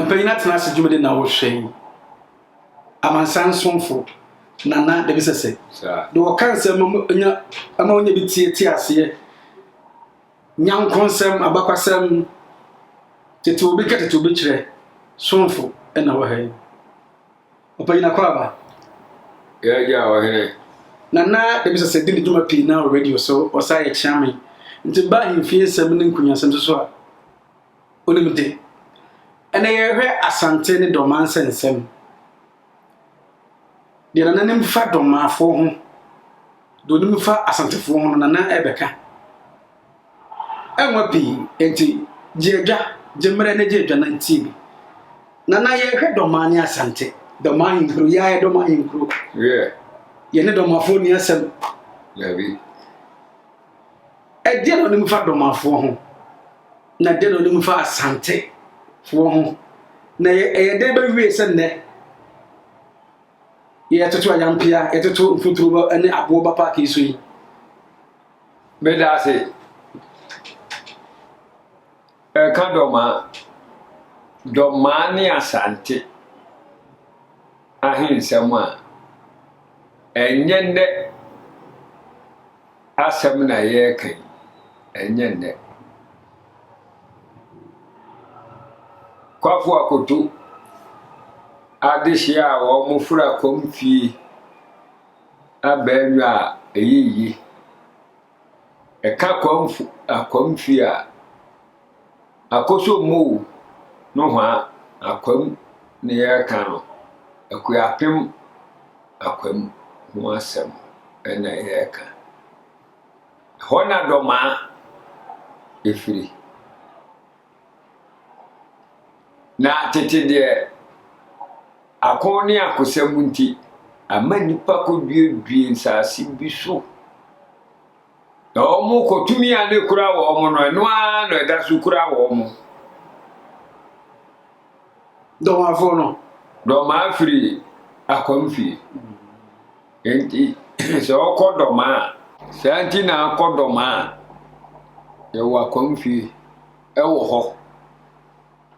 mpanyin atena ase dwumadi na wɔhwɛ yi amansan somfo nana de bi sɛsɛ de wɔka nsɛm nya ama wɔnya bi tie tie aseɛ nyanko nsɛm abakwasɛm tete obi ka tete obi kyerɛ somfo na wɔhɛ yi Ɔpanyin Akwaaba, Yɛn agya a ɔhene. Nana Damisase di ne dwuma pii na wɔ radio so, ɔsan yɛ kyeame. Nti baa ahemfie nsɛm ne nkunyasɛm so so a, onim de. Ɛnɛ yɛrehwɛ Asante ne Dɔmaa nsɛnsɛm. Deɛ Nana nim fa Dɔmaafoɔ ho, deɛ onim fa Asantefoɔ ho no, Nana rebɛka. Ɛnwa pii, enti gye adwa, gye mmerɛ na gye adwa na tie bi. Nana yɛrehwɛ Dɔmaa ne Asante. Dɔmaa ahenkuro, yɛ a yɛ Dɔmaa ahenkuro. Yɛ. Yɛ ne Dɔmaafoɔ nni asɛm. Dabi. Ɛdeɛ na ɔnim fa Dɔmaafoɔ ho? Na ɛdeɛ na ɔnim fa Asante foɔ ho? Na yɛ ɛyɛ dɛn bɛwie sɛ nnɛ? Yɛtoto ayampea, yɛtoto mfuturo ne aboɔ ba paaki so yi. Meda ase. Ɛka dɔmaa. Dɔmaa ne Asante ahensɛm a ɛnyɛ nnɛ asɛm na yɛreka yi. Ɛnyɛ nnɛ. Kwafo Akoto adehye a wɔfora kɔm fie. Abɛɛdwa a ɛyɛ yie. Ɛka kwamf akwamfi a akosombo nohoa akwam na yɛreka no. Akuapem akwam ho asɛm na yɛreka. Ɛhɔ na Dɔmaa firi. Na tete deɛ, ako ne akosɛm nti, ama nnipa kɔduedue nsase bi so. Na wɔkɔ, tumi a na ɛkura wɔn no, ɛno ara na ɛda so kura wɔn. Dɔmafo no. Dɔmaa firi akwamfie. Enti sɛ ɔkɔ dɔm a. Saa nti na akɔ dɔm a, yɛwɔ akwam fie ɛwɔ hɔ.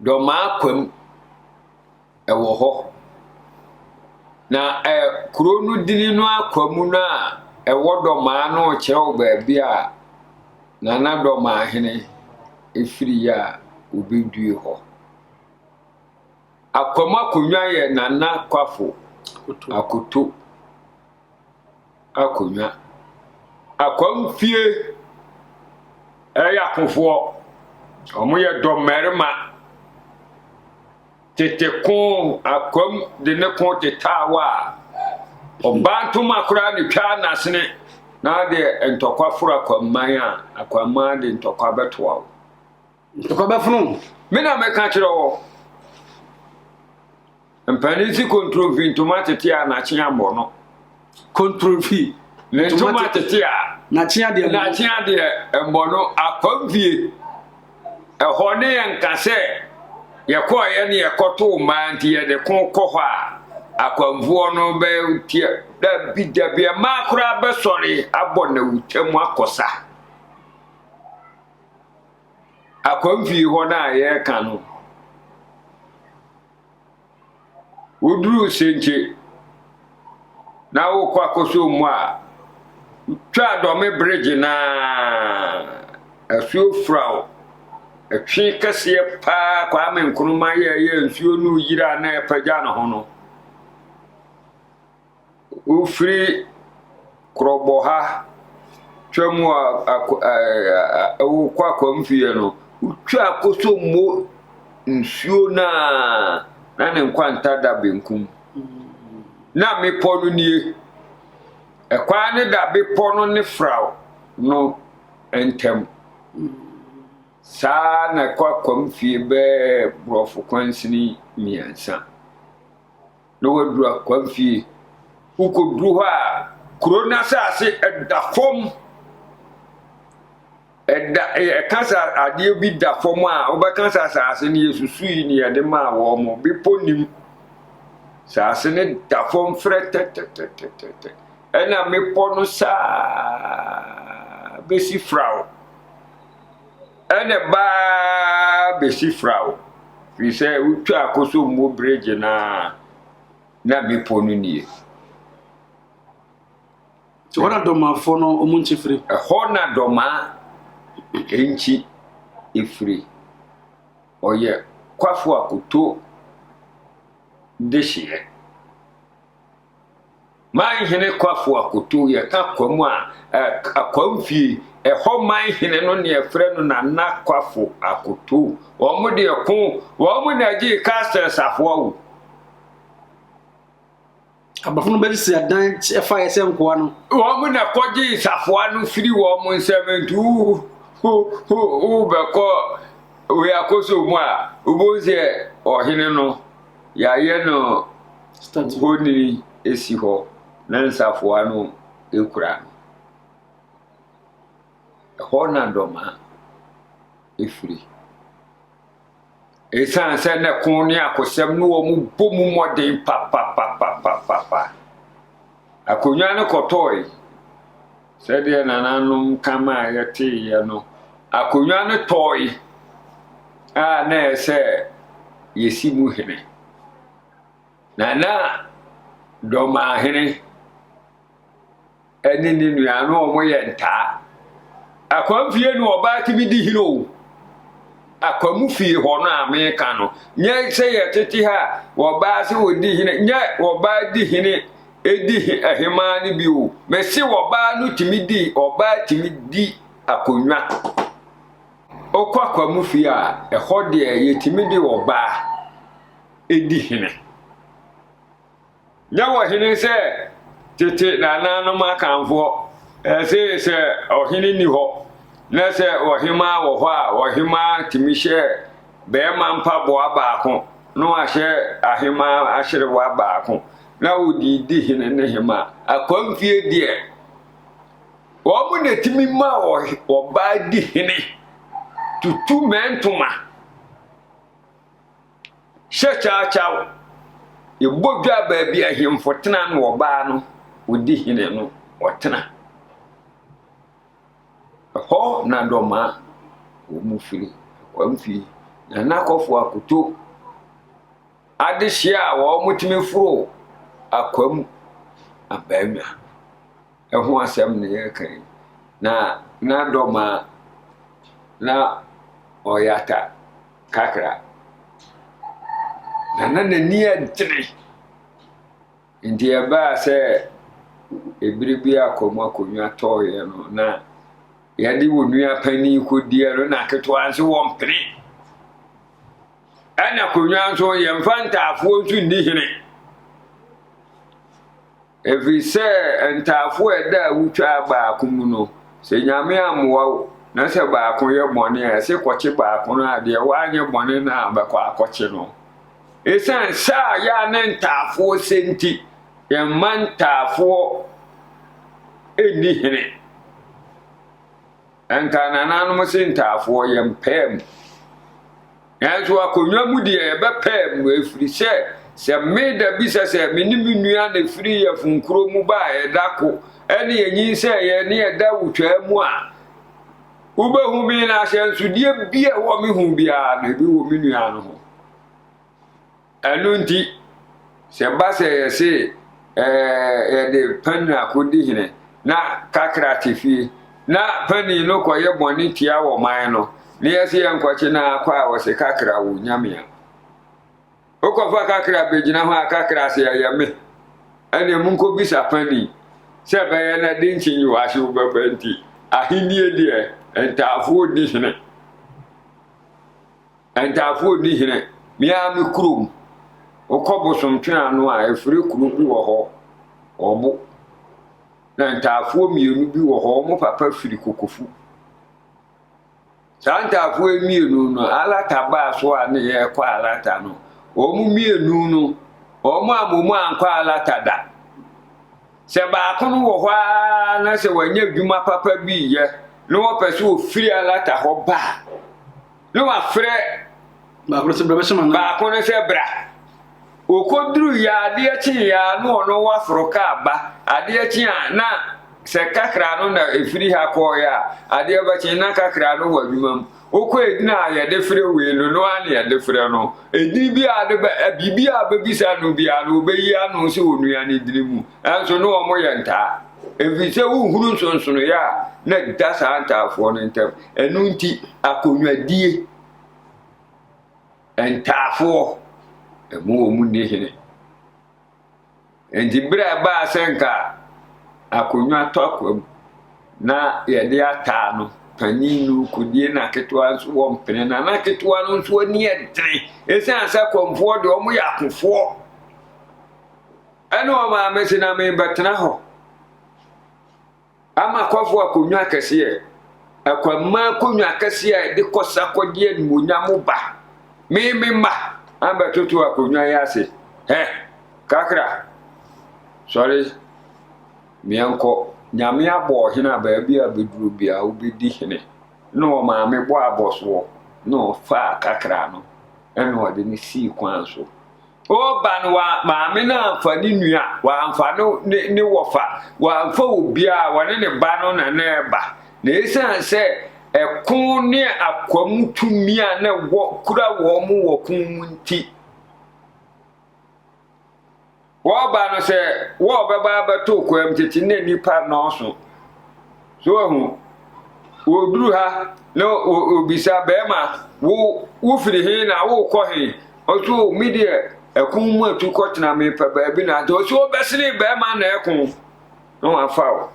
Dɔm akwam ɛwɔ hɔ. Na ɛ kuro no dini no akwam no a ɛwɔ dɔm a no kyerɛw baabi a nana dɔm ahene efiri a obedue hɔ. Akwam akonnwa yɛ Nana Kwafo Akoto akonnwa. Akwam fie ɛyɛ akofoɔ, wɔn yɛ dɔ mmarima. Tete ko akwam de ne ko tetaa hɔ a, ɔbaa ntoma koraa ne twaa n'asene na adeɛ ntɔkwa foro akwamman a, akwamman de ntɔkwa bɛtoa wo. Ntɔkwa bɛfono wo. Me na meka kyerɛ wɔ. Mpanin si kontromfi ntoma tete a n'akyea mmɔ no. Kontromfi. Ne ntoma tete a. N'akyea deɛ mmɔ no. N'akyea deɛ mmɔ no akwamfie. Ɛhɔ ne yɛn ka sɛ yɛkɔɔyɛ ne yɛkɔtoo mmaa nti yɛde ko kɔ hɔ a akwanfoɔ no bɛteɛ dabi dabi mmaa koraa bɛsɔre abɔ na wotwa mu akɔsa. Akwamfie hɔ no a yɛreka no, woduru Senkye na wokɔ akɔsɔ mu a, twa Dɔme bregye no a, asuo fura wo. Ɛtwe kɛseɛ paa Kwame Nkrumah yɛeɛ a nsuo no reyiri a na ɛrepagya ne ho no. Wofiri korɔbɔ ha twa mu a ako ɛɛ wokɔ akwanfie no, wotwa kosombo nsuo no ara na ne nkwanta da benkum. Na mmepɔ no nie. Ɛkwan no da bepɔ no ne fraw no ntam. Saa ara na ɛkɔ akwanfie bɛyɛ borɔfo kwansini mmiɛnsa. na wɔaduru akwamfie. Wokɔduru hɔ a, kuro no asase da fam. Ɛda ɛka sɛ adeɛ bi da fam a wobɛka sɛ asase no yɛsusui ne yɛde maa wɔn mo bepɔ nim. Asase no da fam frɛ tɛtɛtɛtɛtɛ ɛna mmepɔ no saa bɛsi firaw. Ɛnna baa besi firaw, firi sɛ wotwaa Kosombo Bregye no ara na bepɔ no nie. Nti hɔ na Dɔmafoɔ no wɔn nkyi firi. Ɛhɔ na Dɔmaa nkyi firi. Ɔyɛ Kwafoɔ Akoto dehyeɛ. Man hene Kwafu Akoto, yɛka Kwam a, Kwam fie, ɛhɔ man hene no ne ɛfrɛ no Nana Kwafu Akoto. Wɔn de ɛko, wɔn na ɛgyee castles ahoa o. Abafo no bɛsisi adan ɛfa yɛ sɛ nkoa no. Wɔn na kɔgye safoa no firi wɔn nsɛm nti wobɛkɔ wei akoso mu a wobɛhu sɛ ɔhene no yɛayɛ no Honini si hɔ na nsafoa no kura no. Ɛhɔ na dɔma firi. Ɛsiane sɛ na ɛko ne akosɛm ne wɔn bɔ mu mmɔden papapapapapa. Akonnwa no kɔtɔɔe. Sɛdeɛ nananom ka ma a yɛteeɛ no, akonnwa no tɔɔe a na ɛsɛ yɛsi mu hene. Na na Dɔmahene ne ne nua no wɔyɛ ntaa. Akwam fie no ɔbaa tumi di hene o. Akwam fie hɔ no a meka no, nyɛ sɛ yɛtete ha a wɔbaa sɛ wɔdi hene, nyɛ wɔbaa di hene di ahemaa no bi o. Mese wɔbaa no tumi di, ɔbaa tumi di akonnwa. Wokɔ akwam fie a, ɛhɔ deɛ yɛtumi di ɔbaa. di hene. Nyɛ wɔ hene sɛ tete nananom akanfoɔ ɛse sɛ ɔhene ni hɔ na sɛ ɔhemaa wɔ hɔ a ɔhemaa tumi hyɛ bɛɛma mpaboa baako na wahyɛ ahemaa ahyerewa baako na wodi di hene ne hema. Akwamfie deɛ wɔn na tumi ma ɔbaa di hene tutu mɛntoma. Hyɛ kyawkyaw, yɛbɔ dwa baabi ahemfo tena ne ɔbaa no odi hene no ɔtena. Ɛhɔ na dɔmaa wɔn firi wɔn fi na n'akɔfo akoto adehyeɛ a wɔtumi foro akwam abannwa. ho asɛm na yɛreka yi, na n'adɔm a na ɔyata kakra, na na n'ani agyene. Nti ɛbaa sɛ ebere bi a kɔm akonnwa tɔɔeɛ no, na yɛde wɔn nua panin kɔdiɛ no, na aketewa nso wɔn pene. Ɛna akonnwa nso yɛmfa ntaafoɔ nso nni hene. Ɛfiri sɛ ntaafoɔ a ɛda awutwaa baako mu no, sɛ Nyame ammoa wo, na sɛ baako yɛ bɔne a, ɛse kɔkye baako no a, deɛ wanyɛ bɔne no ara bɛkɔ akɔkye no. Esiane sɛ a yɛ a ne ntaafoɔ sɛ nti, yɛmma ntaafoɔ nni hene. Ɛnka nananom se ntaafoɔ yɛmpɛɛ mu. Nanso akonnwa mu deɛ, yɛbɛpaa mu, ɛfiri sɛ, sɛ me da bi sɛ sɛ me ne me nua na ɛfiri yɛfun kuro mu ba a, ɛda ko, ɛne yɛnyinsɛeɛ ne ɛda wotwaa mu a, wobɛhu me, na ahyɛnsodeɛ bi a ɛwɔ me ho biara no, ebi wɔ me nua no ho. Ɛno nti, sɛ ɛba sɛ yɛse yɛde panin akodi hene na kakra te fie, na panin no kɔyɛ bɔne tia wɔ man no, na yɛse yɛnkɔkye no ara kɔ a, ɔse kakra wo nyame a. Wokɔfa kakra bɛgyina hɔ a, kakra se ɛyɛ me. Ɛne monkɔbisa panin sɛ ɛbɛyɛ na de nkye nyi wɔ ahye wobɛba nti, ahennie deɛ ntaafoɔ di hene. Ntaafoɔ nni hene, me ara me kurom. Wokɔ Bosomtwe ano a, ɛfire kuro bi wɔ hɔ, Ɔbo. Na ntaafoɔ mmienu bi wɔ hɔ, wɔn papa firi Kokofu. Saa ntaafoɔ yi mmienu no, Alata baa so a ne yɛrekɔ Alata no, wɔn mmienu no, wɔn a wɔn mu ankɔ Alata da. Sɛ baako no wɔ hɔ ara na sɛ wanya adwuma papa bi yɛ na wɔpɛ sɛ ɔfiri Alata hɔ ba a, Ne wafrɛ. Baako no sɛ bra bɛhyɛ ma no. Baako no sɛ bra. Wɔkɔduru yɛ adeɛ kye yɛ a na ɔno waforo kaa ba. Adeɛ kye a na sɛ kakra no na ɛfiri ha kɔɔeɛ a, adeɛ bɛkye na kakra no wɔ adwuma mu. Wokɔ ɛdina a yɛde frɛ wei no, no ara na yɛde frɛ no. Ɛdini bi a de bɛ, biribi a bɛbisa no biara no, ɔbɛyi ano sɛ onua no dini mu. Ɛnso ne wɔn yɛ ntaa. Efisɛ wohunu nsonsonoe a na ɛda saa ntaafoɔ no ntam. Ɛno nti, akonnwadie ntaafoɔ, ɛmu wɔn nni hene. Enti berɛ a ɛbaa sɛ nka akonnwa tɔ akwa mu na yɛde ataa no, panin no kɔdie na ketewa nso wɔ mpene, na na ketewa no nso ani yɛ den. Ɛsiane sɛ kɔmfoɔ deɛ wɔyɛ akofoɔ. Ɛna ɔmaa me se na merebɛtena hɔ ama kɔfo akonnwa akɛseɛ, akwammaa akonnwa akɛseɛ a ɛde kɔsa kɔgye animuonyam ba. Me me mma ambɛtoto akonnwa yi ase. Hɛ, kakra, sɔre, meɛnkɔ. Nyame abɔ ɔhene a baabi a bɛduro biara wobɛdi hene. Na ɔmaa me bɔ abɔsoɔ na ɔfaa kakra no ɛna ɔde me sii kwan so. Ɔreba no, wa, maame no amfa ne nua, wamfa no, ne, ne wɔfa, wamfa obiara, wɔne ne ba no na na ɛreba. Na esiane sɛ ɛko ne akwam tumi a na wɔ, kura wɔn mu wɔ ko mu nti, wɔreba no sɛ wɔrebɛba abɛto kwam tete na nnipa nnɔɔso. So wahu? Wɔduru ha na wɔbisa bɛrima, wo wofiri he na wokɔ he? Ɔso me deɛ ɛko mu atu kɔtena mepɛ baabi na ate. Ɔso ɔbɛsene bɛrima na ɛko na wafa o.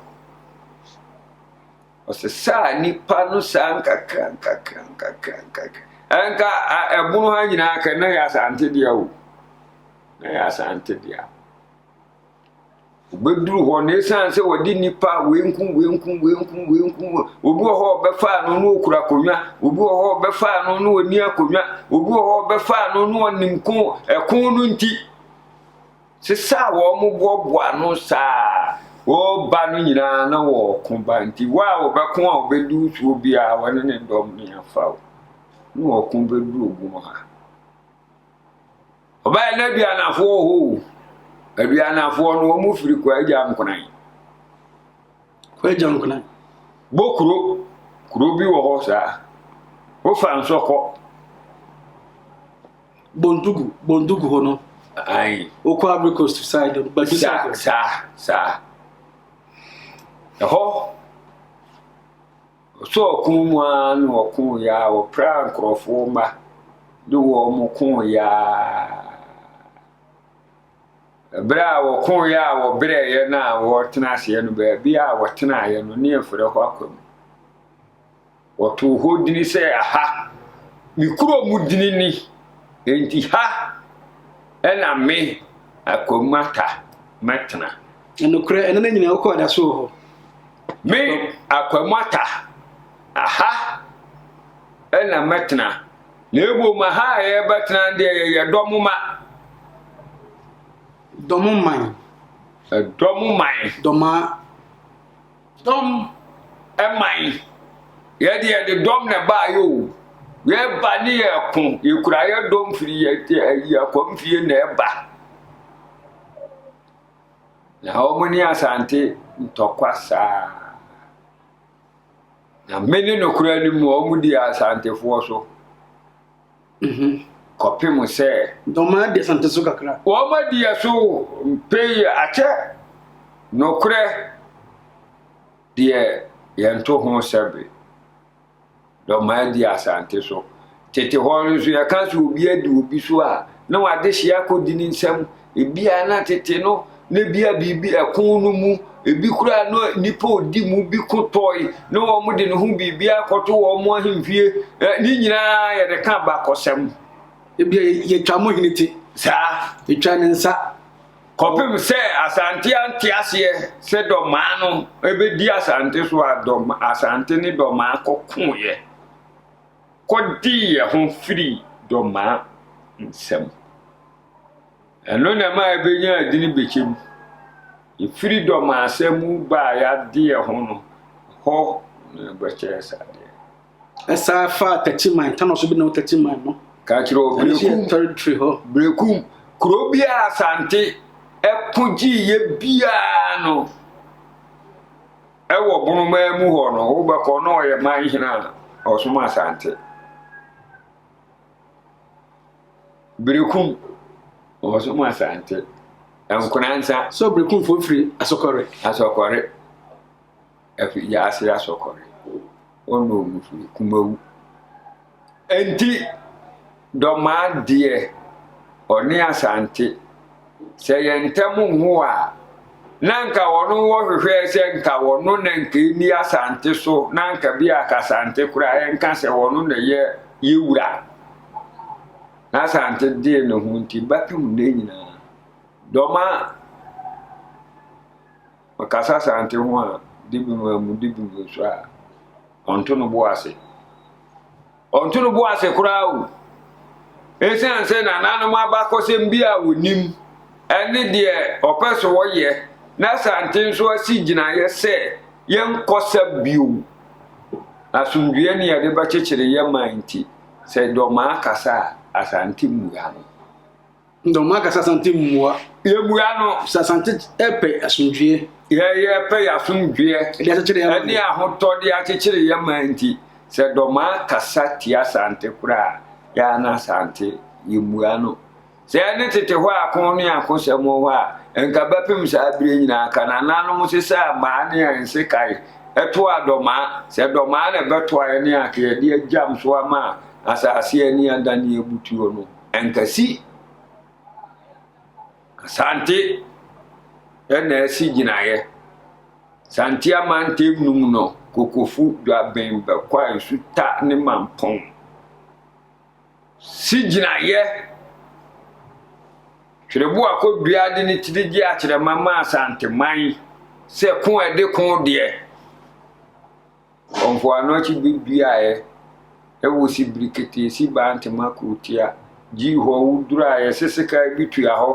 Ɔsɛ saa nipa no saa nkakra nkakra nkakra nkakra. Ɛnka ɛbono ha nyinaa kɛ na yɛ asante deɛ o. Na yɛ asante deɛ. Obeduru hɔ na esiane sɛ wɔde nnipa wenkum wenkum wenkum wenkum obi wɔ hɔ a ɔbɛfa ano na okura akonnwa obi wɔ hɔ a ɔbɛfa ano na ɔni akonnwa obi wɔ hɔ a ɔbɛfa ano na ɔnim ko ɛko no nti sesa a wɔboaboa ano saa wɔba no nyinaa na wɔko ba nti wo a wɔbɛko a wɔbɛdu soɔ biara wɔne ne dɔm ne afa o na wɔko bɛduru ogun ha Ɔbaa yɛ n'aduanafoɔ wɔ hɔ o. Aduanafoɔ no wɔn firi Kwagya Nkonan. Kwagya Nkonan. Bokuro kuro bi wɔ hɔ saa. Wofa nsɔ kɔ. Bondugu Bondugu hɔ no. Ayi. Wokɔ Ivory Coast side Badu side. Saa saa saa. Ɛhɔ Ɔtɔ ɔko mu ara na wɔkooɛ ara, wɔpraa nkurɔfoɔ mma de wɔn kooɛ ara. Berɛ a wɔkooɛ a wɔbrɛeɛ no a wɔretena aseɛ no, baabi a wɔtenaeɛ no, ne yɛfrɛ hɔ Akwam. Wɔtoo hɔ dini sɛ aha, me kuro mu dini ni, enti ha na me Akwam Atta mɛtena. Nokorɛ, ɛno na nyina wokɔɔ da so wɔ hɔ. Me Akwamata, aha na mɛtena, na mmom aha a yɛbɛtena deɛ yɛyɛ dɔm ma. Dɔm man. Dɔm man. Dɔma. Dɔm. Man. Yɛde yɛde dɔm na ɛbaa yɛ o. Yɛba ne yɛ ko, yɛkura yɛ dɔm firi yɛ yɛ akɔmfie na ɛba. Na wɔn ne Asante ntɔkwa saa. Na me ne nokorɛ no mu wɔn di Asantefoɔ so. Mhm. Kɔpem sɛ. Dɔmaa di Asante so kakra. Wɔn adi so mpei akyɛ nokorɛ deɛ yɛnto ho sɛbe. Dɔmaa di Asante so. Tete hɔ no nso, yɛka sɛ obi adi obi so a, na w'adehyeɛ akɔdi ne nsam. Ebia na tete no, na ebia biribi ɛko no mu, ebi koraa na nnipa odi mu bi ko tɔe, na wɔn de ne ho biribi akɔto wɔn mo ahemfie. Ne nyinaa yɛde ka bakɔsɛm. Ebia yɛtwa mo hene ti. Saa. Yɛtwa ne nsa. Kɔpem sɛ Asante ante aseɛ sɛ Dɔmaa no bɛdi Asante so a Dɔm, Asante ne Dɔmaa kɔkoeɛ kɔdiiɛ ho firii Dɔmaa nsam. Ɛno na ɛma ɛbɛnya adini bɛkyɛ mu. Ɛfiri Dɔmaa sɛ mu baa yadeɛ ho no, hɔ na ɛbɛkyɛɛ sadeɛ. Ɛsan fa Tɛtiman, Tanoa so bi na Tɛtiman no. Ka kyerɛ wɔ Berekum. Tɛritiri hɔ. Berekum, kuro bi a Asante ɛko gyiiɛ biara no, ɛwɔ Bonomaa mu hɔ no, wobɛkɔ na ɔyɛ man hena a ɔsom Asante. Berekum, ɔsom Asante. Nkonansa. So Berekumfoɔ firi Asɔkɔre? Asɔkɔre. Afiri wiase asɔkɔre. Ɔnnɔ mu firi kumawu. Enti dɔmaa deɛ ɔne Asante sɛ yɛn ntam nho a na nka wɔn wɔhwehwɛɛ sɛ nka wɔn na nka ɛni Asante so na nka bi a Asante koraa ɛnka sɛ wɔn na yɛ yɛ wura. Na Asante deɛ ne ho nti bɛpem ne nyinaa. Dɔmaa. Ɔkasa Asante ho a, de bi mu amu, de bi mu nso a, ɔnto no bo ase. Ɔnto no bo ase koraa o. Esiane sɛ nananom abakɔsɛm bi a wɔnim ne deɛ ɔpɛ so ɔyɛ na Asante nso asi gyinaeɛ sɛ yɛnkɔsa bio, asomdwoeɛ ne yɛde bɛkyekyere yɛn man nti, sɛ Dɔmaa kasa a, Asante mmua no. Ndɛ ɔmo akasa Asante mu mboa. Yebua no. Sɛ Asante pɛ asomdwie. Yɛ yɛ pɛ yɛ asomdwie. Ɛde akyekyere yɛ man. Ɛne ahotɔ de akyekyere yɛ man nti, sɛ dɔmaa kasa tia Asante koraa a, yɛ a na Asante yembua no. Sɛ yɛ ne tete hɔ ako ne ako sɛm wɔ hɔ a, nka bɛpem saa bire nyinaa ka nananom sesaa maa ne yɛ nsekae toa dɔmaa. Sɛ dɔmaa na ɛbɛtoa yɛ ne anka yɛde agyam so ama asase ani adan yɛ butuo no. Ankasi Asante na ɛsi gyinaeɛ. Santea mantam no mu no, Kokofu, Dwaben, Bɛkwa, Nsuta ne Mampong si gyinaeɛ. Twereboa Kodua de ne tiri gye akyerɛma maa Asanteman sɛ ko a ɛde ko deɛ. Wɔ mpoano akyi bi duaeɛ ɛwɔ sibiri ketee si baa ntema kurotia gyi hɔ wo duraeɛ sesekaa bi tua hɔ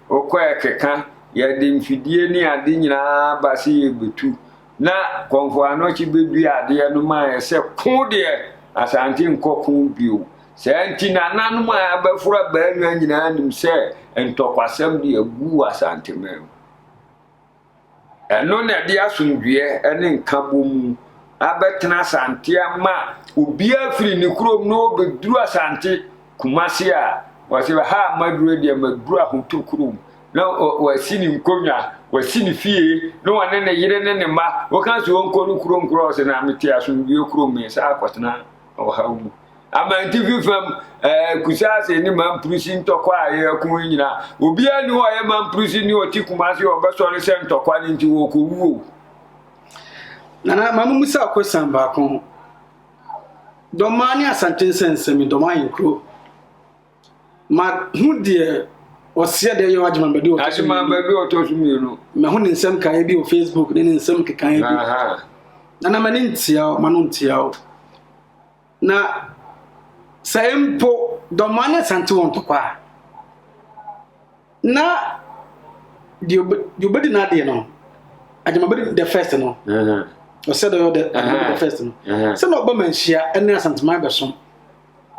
wo kɔ ɛkeka yɛ de mfidie ne ade nyinaa ba sɛ yɛ bɛtu na kɔ mpoano akyi bɛ dua adeɛ no ma yɛ sɛ ko deɛ asante nkɔ ko bio saa nti nananom a abɛforo abaa nwa nyinaa nim sɛ ntɔkwasɛm deɛ gu wɔ asante mɛm. Ɛno na ɛde asomdwoeɛ ne nkabom abɛtena Asante ama obiara firi ne kurom na ɔbɛduru Asante, Kumasi a wɔse ha a maduru deɛ maduru ahotɔ kurom na wasi ne nkonnwa, wasi ne fie na ɔne ne yere ne ne mma. Woka sɛ ɔnkɔ ne kurom koraa ɔse na mete asomdwoeɛ kurom, mesan akɔtena ɔhaw mu. Amantifi fam, ɛɛ, Kusase ne Mamprisi ntɔkwa a yɛko yi nyinaa, obiara ni hɔ a ɔyɛ Mamprisi ni ɔte Kumasi a ɔbɛsɔre sɛ ntɔkwa no nti wɔkɔwu o. Nana, ma memmisa wo kwasian baako. Dɔmaa ne Asante nsɛnsɛm yi, Dɔmaa yɛ nkuro. Mahu deɛ ɔseɛ deɛ yɛ Agyemambadu ɔtɔ so mmienu. Agyemambadu ɔtɔ so mmienu. Mahu ne nsɛm kaeɛ bi wɔ Facebook ne ne nsɛm kekaeɛ bi. Nana, m'ani ntia wo, m'ano ntia wo. Na sɛ mpo dɔmmaa no sante wɔn ntɔkwa a, na deɛ ɔbɛdi n'adeɛ no, agyama bɛdi the first no, ɔsɛ dɛ ɔyɛ the first no, sɛ na ɔba manhyia ne asanteman bɛsom,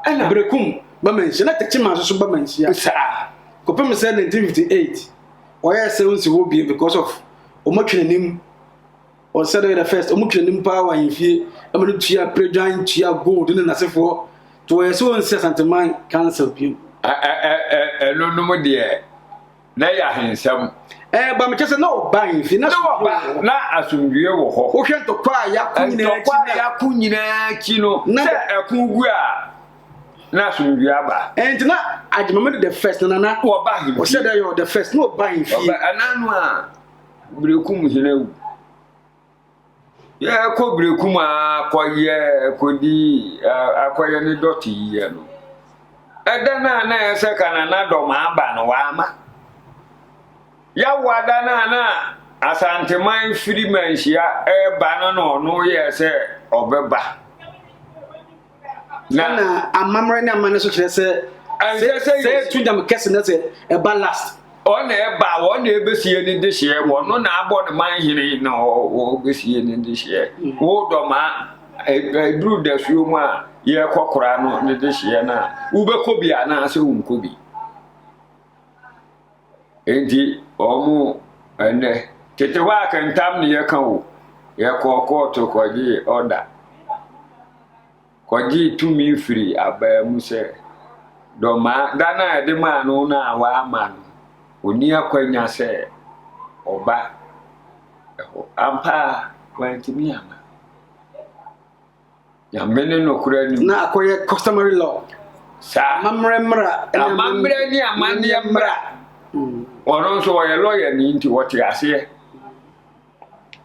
ɛna berekum ba manhyia, na tɛkyi maa soso ba manhyia saa, kɔpem sɛ 1958, ɔyɛ sɛ nsi hɔ bie because of ɔmatwi n'anim. Wɔn sɛdeɛ yɛ dɛ first wɔn twere nim paa wɔ ahemfie ɛma no tua predwan tua gold ne nasefoɔ to wɔyɛ sɛ wɔn si asanteman council bio. ɛno nom deɛ na yɛ ahensɛm. ɛɛ ba mekyɛ sɛ na ɔba ahemfie na ɔba na asomdwie wɔ hɔ. wohwɛ ntɔkwa a yɛako nyinaa akyi ntɔkwa a yɛako nyinaa akyi no sɛ ɛko gu a na asomdwie aba. ɛnti na agyemame de the first na nana wɔba ahemfie ɔhyɛ dɛ yɛ the first na ɔba ahemfie. ɛnano a. Berekum hene awu. Yɛkɔ berekum a kɔyɛ kɔdi akɔyɛ ne dɔte yɛ no. Ɛda no a na ɛyɛ sɛ ka na n'adɔm aba no wama. Yawa da no a na Asanteman firi manhyia ɛreba no na ɔno yɛ sɛ ɔbɛba. na amammerɛ ne amanne so kyerɛ sɛ sɛ etu nyam kɛse na sɛ ɛba last ɔna ɛba ɔna ɛbɛsie ne dehyeɛ wɔno na abɔ ne man hene na ɔbɛsie ne dehyeɛ mm. wo dɔma ɛduru e, dasuo mu a yɛkɔ kora no ne dehyeɛ no a wobɛkɔ bi anaasɛ wonkɔ bi Enti wɔn ɛnnɛ, tete hɔ a ka ntam ne yɛka o, yɛkɔɔ kɔɔto kɔgyee ɔda, kɔgyee tumi firi abaa mu sɛ dɔmaa da no a yɛde maa no no a wɔama no, ɔnni akwanya sɛ ɔba hɔ. Ampa ara, wantumi amma. Nyame ne nokorɛ nim. Na akɔyɛ customary law. Saa. Amammerɛ mmara. Amammerɛ ne amanneɛ mmara. Hmm. Ɔno nso ɔyɛ lɔya ni nti wɔte aseɛ.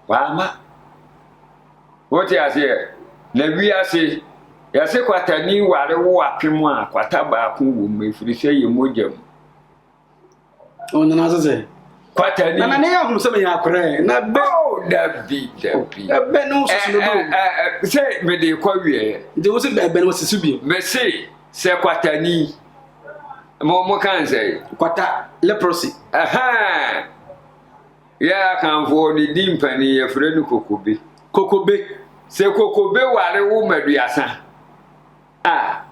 Wama. Wote aseɛ. Na wiase yɛse kwatani ware wo apem a kwata baako wɔ mu ɛfiri sɛ yɛ mogya mu. ɔno na sɛ kwatani na ne yɛ ahom sɛ meyɛ akorɛ na bɛ oh, dabi dabi ɛbɛ ne wo soso no do eh, eh, eh, sɛ mede kɔ wieɛ nti wo se bɛbɛ no wɔsisi bio mese sɛ kwatani mo mo kan sɛ kwata leprosy ɛhɛn yɛ akanfoɔ ne di mpani yɛfrɛ no kokobe kokobe sɛ kokobe ware wo maduasa a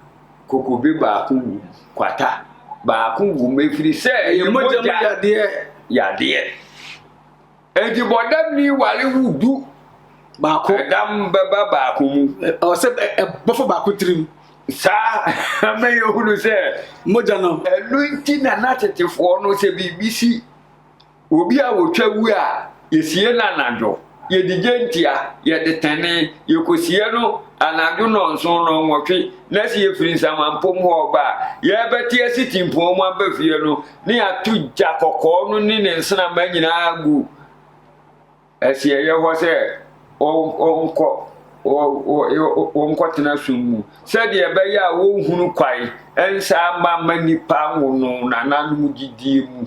kokobe baako wom, kwata baako wom, ɛfiri sɛ ɛyɛ mogya mu yadeɛ. yadeɛ. Enti bɔdamni ware wo du baako. Ɛdam bɛba baako mu. Ɔsɛ ɛbɔfo baako tirim. Saa ama yɛhunu sɛ. Mogya no. Ɛno nti na n'atetefoɔ no sɛ biribi si Obi a otwa wu a, yesie no anadwo, yɛde gyentia, yɛde tene, yɛkɔsie no anadwo nnɔnson nnɔnwɔtwe, na sɛ yɛfiri nsamanpom hɔ reba a, yɛbɛte asitimpɔn mu aba fie no, na yɛato gya kɔkɔɔ no ne ne nsramma nyinaa agu. Si ɛyɛ hɔ sɛ wɔnkɔ wɔnkɔtena sum mu, sɛdeɛ ɛbɛyɛ a wɔnhunu kwae nsa ama ma nnipa nwono nananom gyidie mu.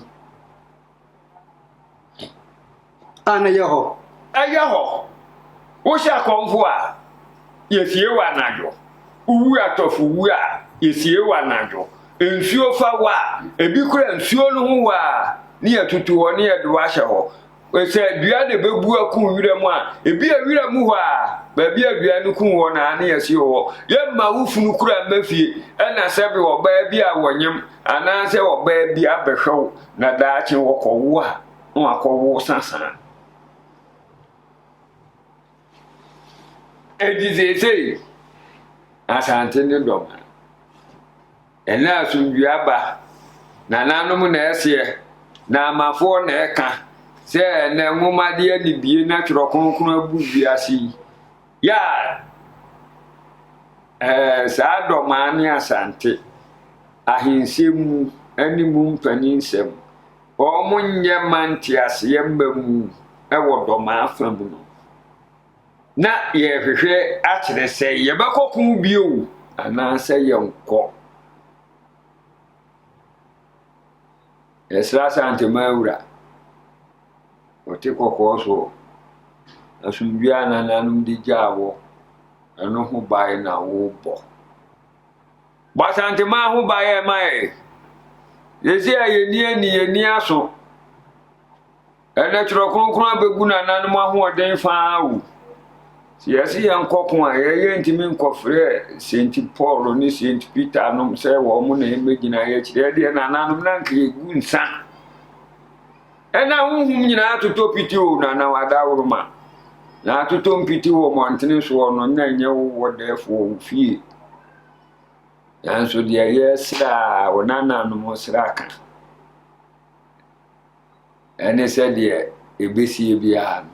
A na ɛyɛ hɔ. Ɛyɛ hɔ. Wohyɛ akɔmfo a, yɛsie wɔ anadwo. Wowu atɔfo wu a, yɛsie wɔ anadwo. Nsuo fa wɔ a, ebi kura nsuo no ho wɔ a, ne yɛtutu hɔ ne yɛde wɔ ahyɛ hɔ. Sɛ dua na ebebu aku wura mu a, ebi a wura mu hɔ a, baabi a dua no kum hɔ na ne yɛsi wɔ hɔ. Yɛmma wo funu kura mma fie, ɛna sɛbe ɔbaa bi a wɔnyem anaasɛ ɔbaa bi abɛhwɛ wo na daakye wɔkɔwo a, na wakɔwo sasaa. Enti seesei, Asante ne dɔm Ɛnnɛ asomdwoe aba. Nananom na ɛseɛ, na amafoɔ na ɛka sɛ ɛnnɛ nwomadeɛ anibie na twerɛ kronkron abu wiase yi. Ya! Ɛɛ, saa dɔmaa ne asante, ahensɛm mu ne mu mpaninsɛm, wɔn nyɛ ma nteaseɛ mma mu wɔ dɔmaa fa mu no. na yɛrehwehwɛ akyerɛ sɛ yɛbɛkɔ ko bio anaasɛ yɛnkɔ. Ɛsra Asantema awura, ɔte kɔkɔɔ so asomdwoe a nananom de gyaa wɔ ɛno ho bae na wobɔ bɔ asantema ho bae ɛma yɛ yɛsi a yɛni ani yɛni aso Ɛnnɛ Twerɛ Kronkron abɛgu nananom ahoɔden fa ara o. Sɛ yɛse yɛnkɔ ko a, yɛn yɛntumi nkɔfrɛ Saint Paul ne Saint Peter nom sɛ wɔn na ɛmmɛgyina yɛn akyi. Ɛdeɛ nananom na anka yɛgu nsa. Ɛna honhom nyinaa atotɔ piti o, nana wadaworoma. Na atotɔ mpiti wɔ mmɔntene soɔ no, na ɛnyɛ wo wɔ dɛɛfoɔ wo fie. Nanso deɛ yɛsrɛ a, wo nananom srɛ aka. Ɛne sɛdeɛ ɛbɛsie biara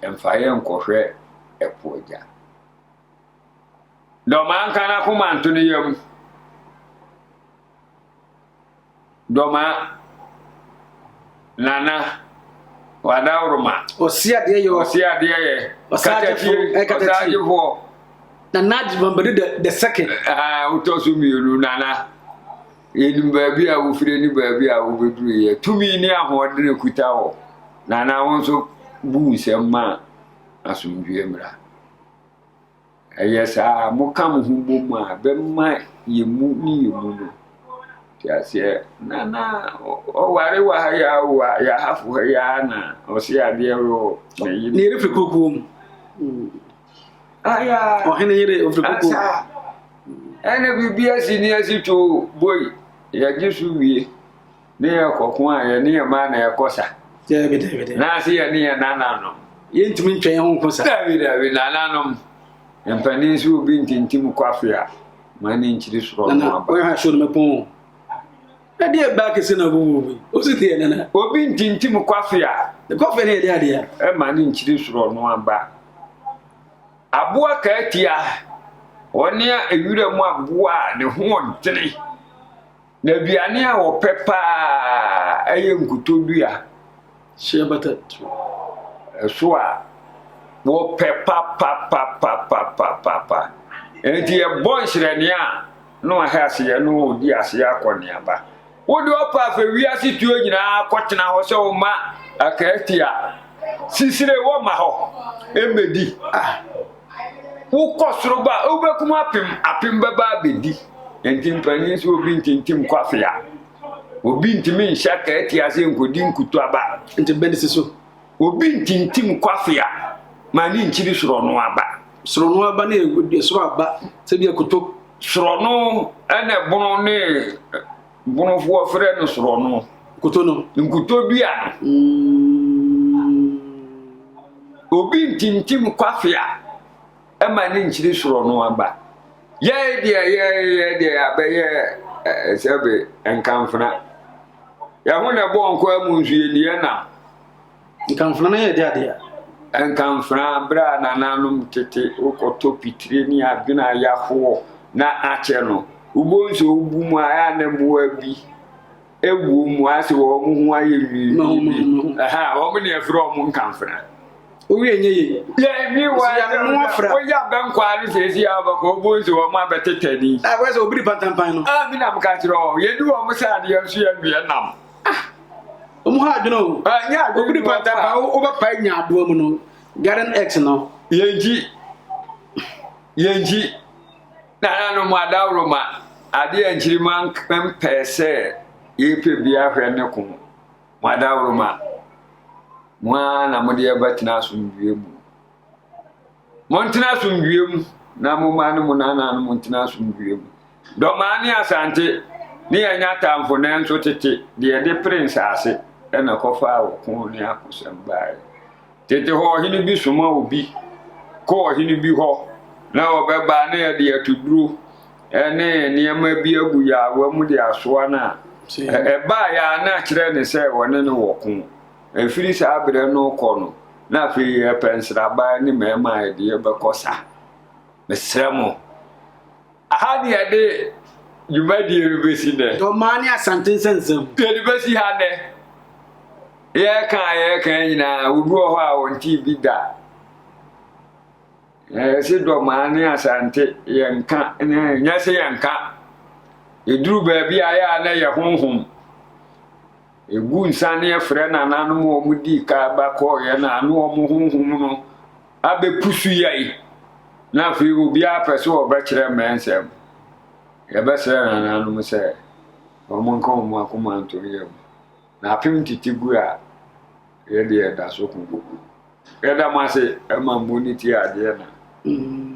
no, mfa yɛ nkɔhwɛ ɛpo agya. Dɔ maa nka n'akoma nto ne yam. Dɔ maa nana wadaworoma. Ɔsi adeɛ yɛ. Ɔsi adeɛ yɛ. Ɔsaagyefo. Ɔsaagyefo. Nana Adjumabade the second. Ɛɛ wotɔ so mmienu nana. Yɛnim baabi a wofire ne baabi a wobɛduruiɛ. Tumi ne ahoɔden a kuta hɔ. Na na wo nso bu nsɛm ma asomdwoeɛ mmra. Ɛyɛ saa moka mo ho bɔ mu a bɛma yɛ mu ne yɛ mu no. Te aseɛ na na ɔware wɔ ha yɛ awo a yɛahafo ha yɛ a na ɔse adeɛ wɔ ne yere. Ne yere firi kokoɔ mu. ɔhene yere ofirikoko. ɛna biribi asi ne asi too boi yɛgye so wie ne yɛkɔko a yɛne yɛ maa na yɛkɔ sa naase yɛne yɛ nananom yɛntumi ntwa yɛn ho nko sa dabi dabi nananom mpanin so obi ntintim kwafe a ma ne nkyiri sorɔ no aba Na deɛ baa kese na ɔbɔ mu bi. Ɔsi deɛ nana. Obi ntintim kwafe a. Ne kwafe ne yɛde adeɛ. Ɛma ne nkyiri soro no aba. Aboa kaatia, ɔne a ewira mu aboa a ne ho ɔdene. Na aduane a ɔpɛ paa ɛyɛ nkotodua. Hyɛ bata tiri so a wopɛ papapapapapapa. Enti yɛbɔ nhyerɛnee a na wɔahɛ ase yɛ no ɔdi ase akɔneaba. Wode ɔpa afɛ wiase tuo nyinaa kɔtena hɔ sɛ woma akaati a sisire wɔma hɔ mmɛdi. Ah, wokɔ soro ba wobɛkum apem apem bɛba abɛdi. Enti mpanyin sɛ obi ntintim kɔ afea. Obi ntumi nhyɛ akaati ase nkodi nkutuaba. Nti bɛn si so. Obi ntintim kwafea ma ne nkyiri sorɔno aba. Sorɔno aba ne soro aba sɛ bi akoto. Sorɔno ɛna ɛbono ne bonofoɔ frɛ no sorɔno. Nkuto no. Nkuto dua no. Mm. Obi ntintim kwafea. ma ne nkyiri soro no aba. Yɛe deɛ yɛyɛ deɛ yɛabɛyɛ eh, sɛbe nkamfena. Yɛho na ɛbɔ nkɔa mu nso yɛnniɛ nam. Nkamfena no yɛ de adeɛ. Nkamfena berɛ a nananom tete wokɔtɔ pitire ne adwene a yɛahoɔ na akyɛ no. Wobɔ nso wobu mu a ɛa ne mmoa bi ɛwuo mu ase wɔ wɔn ho ayɛ nwii na wɔn ho ho ɛha wɔn na ɛfrɛ wɔn nkamfra owi enye ye yɛni wa woyɛ abɛnkɔ ano sɛ esi abɛkɔ ɔbɔ nsi wɔn abɛtetɛ ni a wɔyɛ sɛ obi di pantampan no a ah, mi nam ka kyerɛ wɔn yɛni wɔn sɛ adeɛ nso yɛ nwiɛ nam ah, wɔn ha adwene o ah, obi di pantampan wobɛpae nya adoa mu no garden x no yɛnkyi yɛnkyi Nananom adaworo ma ade a nkyirimma mpɛɛ sɛ yɛpɛ bia hwɛ ne ko. Mo adaworo ma mo ara na mode ɛba tena asomdwie mu. Montena asomdwie mu na mo mma ne mo nananom ntena asomdwie mu. Dɔmaa ne Asante ne yɛn nya tamfo nanso tete deɛ de pere nsaase na kɔfaa ɔko ne akosɛm baeɛ. Tete hɔ ɔhene bi soma obi kɔ ɔhene bi hɔ na ɔbɛba na yɛde atuduro ne nneɛma bi agu yaawa mu de asoa no a, ɛbaa yɛ a na kyerɛ ne sɛ wɔne no wɔ ko. Ɛfiri saa berɛ no kɔ no, na afei yɛpɛ nsraban ne mmarima a yɛde yɛbɛkɔ sa. Mesrɛ mo. Aha ne yɛde dwumadie no bɛsi nnɛ. Dɔmaa ne Asante nsɛnsɛm. Yɛde bɛsi ha nnɛ. Yɛreka a yɛreka nyinaa, obi wɔ hɔ a wɔntee bi da. Yɛse Dɔmaa ne Asante yɛnka, nyɛ se yɛnka. Yɛduru baabi a yɛ a na yɛ honhom. Ɛgu nsaneɛ frɛ nananom a wɔn dii kan ba kɔɔeɛ no a na wɔn honhom no abɛ pusu yɛi na afei obiara pɛ sɛ wɔbɛ kyerɛ mmɛ nsɛm yɛbɛ srɛ nananom sɛ wɔn nka wɔn akoma nto no yɛ mu na apem tete gu a yɛde yɛda so ko gugu yɛda mo ase ɛma mmu ne ti adeɛ na mm.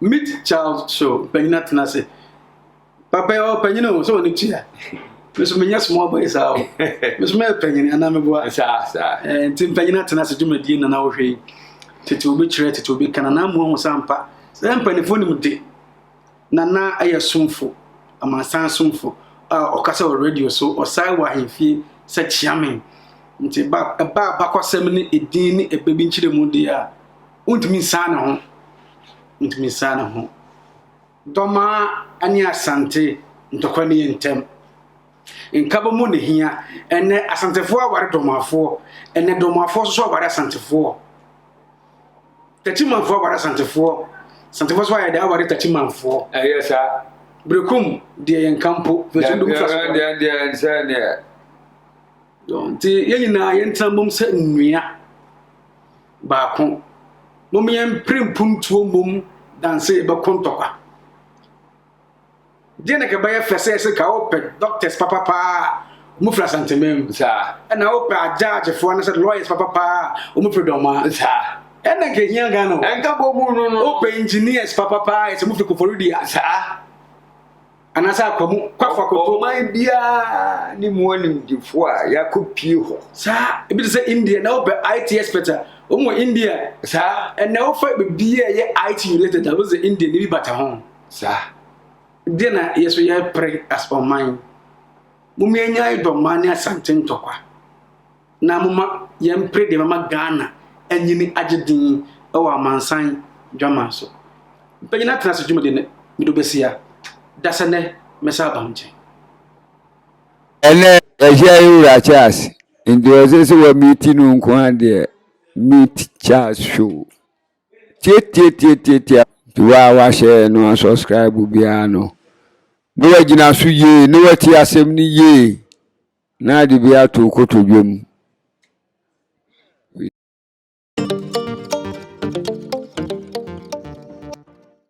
Meet Child Show, Mpanyina Tena Ase. papa yɛ ɔpanyin o sɛ ɔne tua meso menyɛ small boy saa o meso mɛyɛ panyin anaa meboa nti mpanyin atena ase dwumadie nana wohwɛ yi tete obi kyerɛ tete obi ka nana mu ahu sɛ ampa sɛ mpanimfoɔ nim de nana ɛyɛ somfo amansan somfo a ɔka sɛ wɔ radio so ɔsae wɔ ahemfie sɛ kyeame nti ɛba abakɔsɛm ne ɛdin ne ɛbɛ bi nkyerɛ mu deɛ a wontumi nsaa ne ho wontumi nsaa ne ho Dɔmaa ne Asante ntɔkwa nie ntɛm. Nkaba mu na ehia. Ɛnɛ Asantefoɔ aware Dɔmaafoɔ. Ɛnɛ Dɔmaafoɔ nso so aware Asantefoɔ. Tatimanfoɔ aware Asantefoɔ. Asantefoɔ so ayɛ dɛ aware Tatimanfoɔ. Ɛyɛ saa. Berekum deɛ yɛn nka mpo. Fɛsɛ dum fa so. Deɛ deɛ nsɛ neɛ. Nti yɛn nyinaa yɛn tena mom sɛ nnua. Baako, mom yɛn mpere mpuntuo mmom danse yɛbɛko ntɔkwa. Deɛ na kɛbɛyɛ fɛ sɛ ɛsɛ ka wopɛ doctors papa paa a wɔn firi asanteman mu. Saa. Ɛna wopɛ agyagyefoɔ anasɛ lawyers papa paa a wɔn firi dɔmaa. Saa. Ɛna nka ehia Ghana o. Ɛnka bɔ mu no no. Wopɛ engineers papa paa a ɛsɛ wɔn firi Koforidua. Saa. anaasɛ akwa mu kwafo akoto. Ɔman biara ne mu animdefo a yɛakɔpie hɔ. Saa, ebi te sɛ India, na wopɛ IT expert a, wɔn wɔ India. Saa. Ɛnna wofa biribi a ɛyɛ IT related a, wosɛ India ne bi bata ho. Saa. Deɛ na yɛ so yɛpere as ɔman. Mom yɛnyae dɔmmaa ne Asante ntɔkwa. Na momma yɛmpere deɛ ɛbɛma Ghana anyini agye din wɔ amansan dwaman so. Mpanyin atena ase dwumadi no mede wo bɛsia da sɛ nnɛ mɛsan aba wo nkyɛn. Ɛnnɛ, Asia yi wura Charles nti ɔsɛ sɛ wɔ meeti no nko ara deɛ meet Charles show tiatiatiatiatia nti wo a wahyɛ no asubscribe biara no na wagyina so yie na wati asɛm no yie. Na ade bi ato wo kotodwe mu.